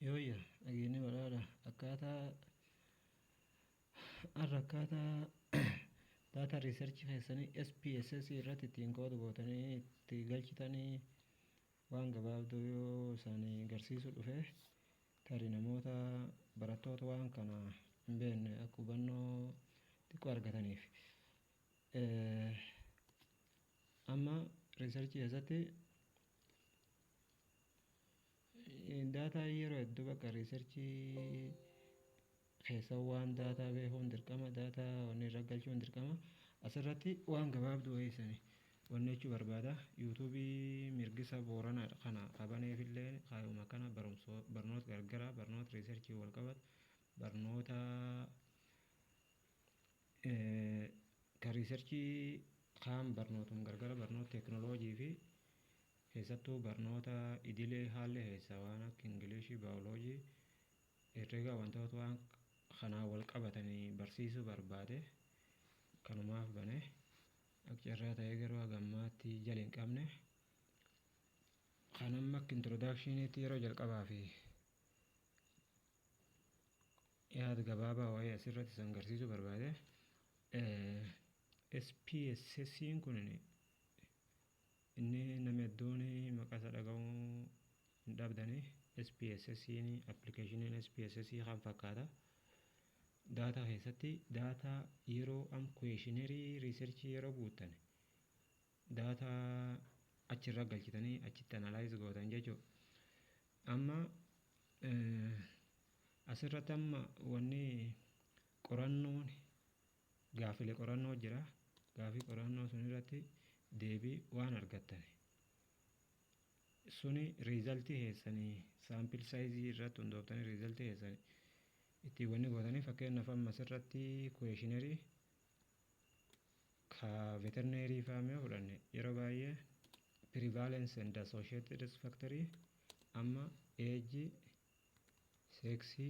Yooyya dhageennee badhaadha akkaataa har'a akkaataa data research keessanii SPSS irratti ittiin koodu gootanii itti galchitanii waan gabaabduu yoo isaanii garsiisu dhufe tarii namoota barattoota waan kana hin beekne akka hubannoo xiqqoo argataniif. Amma research keessatti Daataa yeroo hedduu bakka riisarchii keessa waan daataa beekuun dirqama daataa wanni irra galchuun dirqama asirratti waan gabaabduu wayii sani wanni jechuu barbaada yuutuubii mirgisa booranaa kana qabaneefillee kaayuma kana barumsa barnoota gargaraa barnoota riisarchii wal qabatu barnoota ka riisarchii kaan barnootuma gargara barnoota teekinooloojii fi Keessattuu barnoota idilee haalli keessaa waan akka Ingiliishii, Baayoloojii, Herregaa wantoota waan kanaan wal qabatan barsiisuu barbaade kanumaaf bane. Akka carraa ta'ee garuu haga ammaatti jala hin qabne. Kan amma akka introdaakshiniitti yeroo jalqabaa fi yaada gabaabaa wayii asirratti san garsiisuu barbaade. SPSSiin kun Inni nami hedduun maqaa isaa dhaga'uu hin dhabdani. SPSS appilikeeshiniin SPSS kan fakkaata. Daataa keessatti daataa yeroo am kuweeshinarii riisarchii yeroo guuttan daataa achirra galchitanii achitti analaayiz gootan jechuudha. Amma asirratti amma wanni qorannoon Gaaffilee qorannoo jira. Gaaffii qorannoo sun irratti deebii waan argattani. Suni riizaltii keessanii saampil saayizii irratti hundooftanii riizaltii keessan ittiin wanni gootanii fakkeenyaaf amma asirratti kuweeshinarii ka veterineerii fa'aa mee fudhanne yeroo baay'ee prevalence and associated risk factor amma age seeksii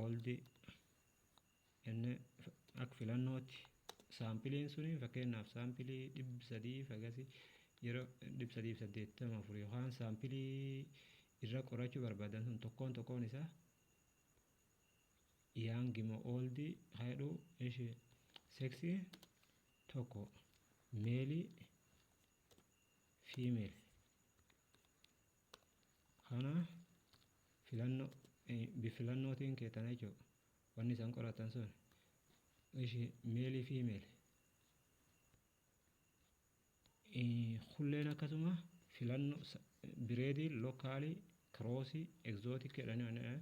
old inni akka filannootti saampiliin suni fakkeenyaaf saampilii dhibbi sadii fagasi yeroo dhibbi sadii fi saddeettama afur yookaan saampilii irra qorachuu barbaadan sun tokkoon tokkoon isaa yaangi moo ooldi haadhu ishi seksi tokko meelii fiimeel Kana filannoo bifilannootiin kee tana jechuudha. Wanni isaan qoratan sun ishi meelii fi meeli. Kulleen akkasuma filannoo bireedii lookaalii kiroosii egzootikii jedhanii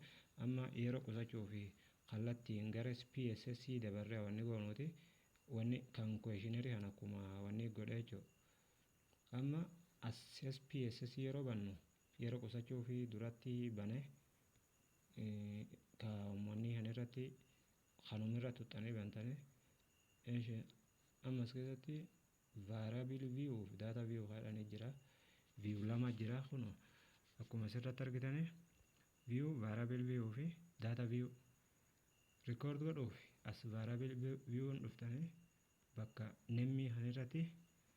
amma yeroo qusachuu fi kallattiin gara PSS dabarree wanni goonuuti wanni kan kweeshinarii kan akkuma wanni godhee jechuudha. Amma as SPSS yeroo bannu yeroo qusachuu fi duratti bane ka ummanni kan irratti kanuma irra tuxxanii bantani eshi amma as keessatti variable view fi data view kaadhanii jira view lama jira kun akkuma asirratti argitani view variable view fi data view record godhuuf as variable view dhuftanii bakka nemmii kan irratti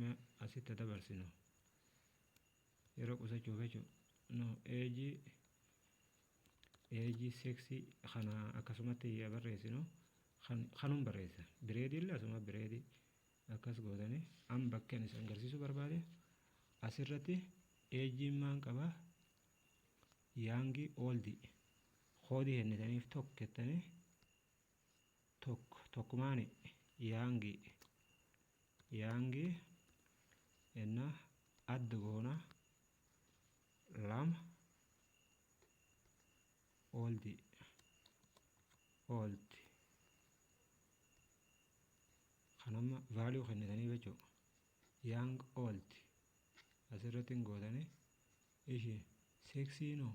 Mee asitti haa dabarsinu. Yeroo qusachuuf jechuun no eeji eeji seeksii kana akkasumatti yaa barreessinu kan kanuun barreessa. Bireedii illee asuma bireedii akkas gootanii an bakkeen isin agarsiisuu barbaade asirratti eejiin maan qaba yaangii ooldii koodii kennitaniif tokko jettanii tokko tokkumaani yaangi yaangi enna adda goona lama ooldi oolti kan amma vaaliyuu kennitanii jechuu yaang oolti asirratti hin gootanii ishi seeksiinoo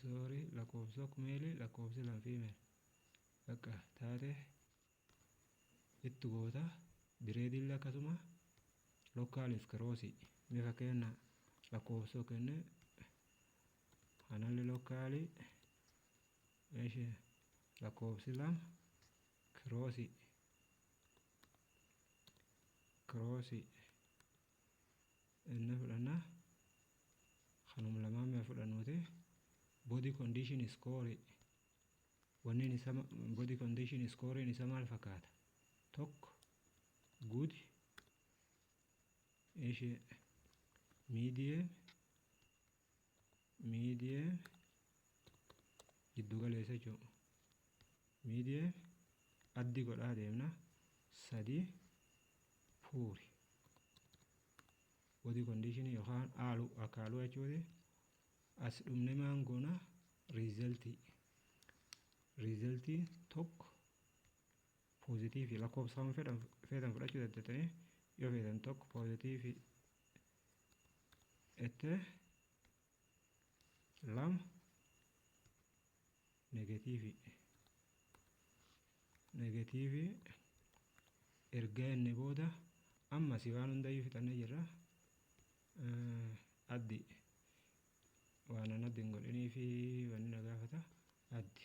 Sorry lakkoofsok meeli lakkoofsi lan female bakka taate itti goota bireediillee akkasuma lokkaaliif kiroosii mee fakkeenya lakkoofsoo kenne analli lokkaalii eshi lakkoofsi lama kiroosii kiroosii inni fudhanna kanum lamaan mee fudhannuuti body condition score wanneen isa body condition scoreen isa maal fakkaata tokko good ishee medium miidiyee giddu galeessa jechuudha. Miidiyee addi godhaa deemna sadii puuri body condition yookaan haaluu akka haaluu jechuudha. As dhumne maan goona riizaltii riizaltii tokko poozitiivii lakkoofsaan feetan fudhachuu dandeettanii yoo feetan tokko poozitiivii ete lama negatiivii negatiivii erga inni booda ammas waan hundayyuu fixannee jirra addi waan an addi hin godhinii fi wanni na gaafata addi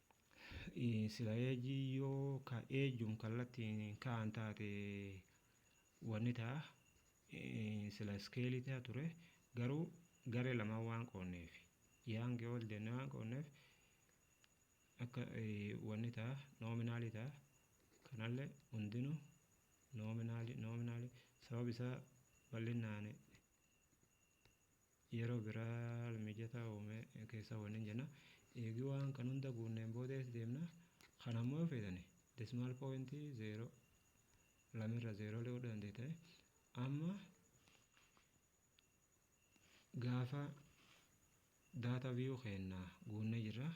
Sila eejii yoo ka eejuun kallattiin ka'an taate wanni ta'a sila iskeelii ta'a ture garuu garee lamaan waan qoonneef yaangi ol deemnee waan qoonneef akka wanni ta'a noominaalii ta'a kanallee hundinuu noominaalii noominaalii sababa isaa bal'innaani Yeroo biraa haala mijataa uume keessaa waliin jenna. Eegi waan kan hunda guunneen booda eessa deemna? Kana ammoo yoo feetani decimal point 0 lama irra 0 illee godhuu dandeettani. Amma gaafa data view keenna guunnee jirra.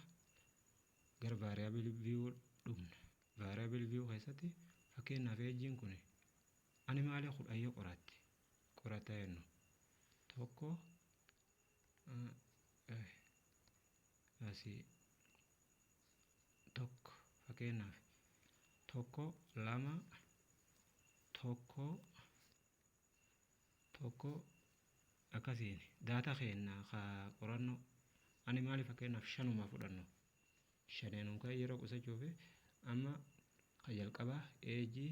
Gara variable view dhufna. Variable view keessatti fakkeenyaaf eejjiin kun animaalee kudhan yoo qoraatte qorataa jennu tokko asii tokko fakkeenyaaf tokko lama tokko tokko akkasiin daataa keenya ka qorannoo ani maaliif fakkeenyaaf shanumaa fudhannu shaneenuu kan yeroo qusachuuf amma kan jalqabaa eejii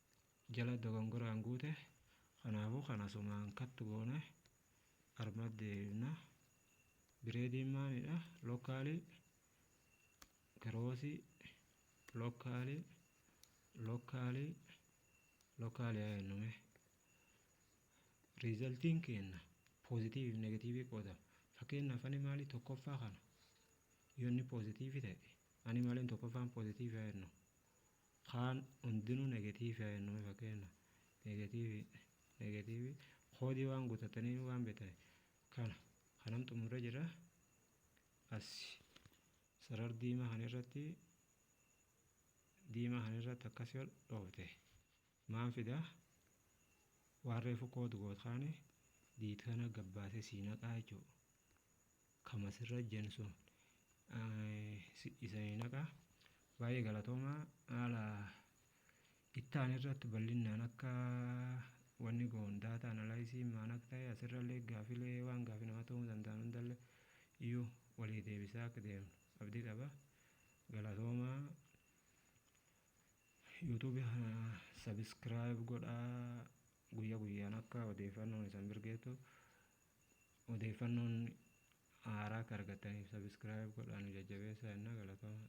jala dogongoraan guute kanaafuu kan asumaan cut goone armatti deebifna bireediin maalidha lookaalii kiroosii lookaalii lookaalii lookaalii haa jennu mee riizaltiin keenna poozitiiviif negatiivii qoodama fakkeenyaaf ani maalii tokkoffaa kana yoo inni poozitiivii ta'e ani maaliin tokkoffaan poozitiivii haa jennu Kaan hundinuu negative haa jennuu mee fakkeenyaaf negative negative koodii waan guutatanii waan beektan kana kanan xumurre jira as sarar diimaa kan irratti diimaa kan irratti akkasii ol dhoofte. Maan fidaa waan reefu code goot kaane diit kana gabbaase sii naqaa jechuu kama sirra jen sun isanii naqaa baay'ee galatoomaa haala ittaan irratti bal'innaan akka wanni goon daataa analaayisii maan akka ta'e asirrallee gaafilee waan gaafi nama ta'uu danda'an hundallee iyyuu walii deebisaa akka deemnu abdii qaba galatoomaa YouTube kana subscribe godhaa guyya guyyaan akka odeeffannoon isan birgeetu odeeffannoon haaraa akka argattaniif subscribe godhaa nu jajjabeessaa jennaa galatoomaa.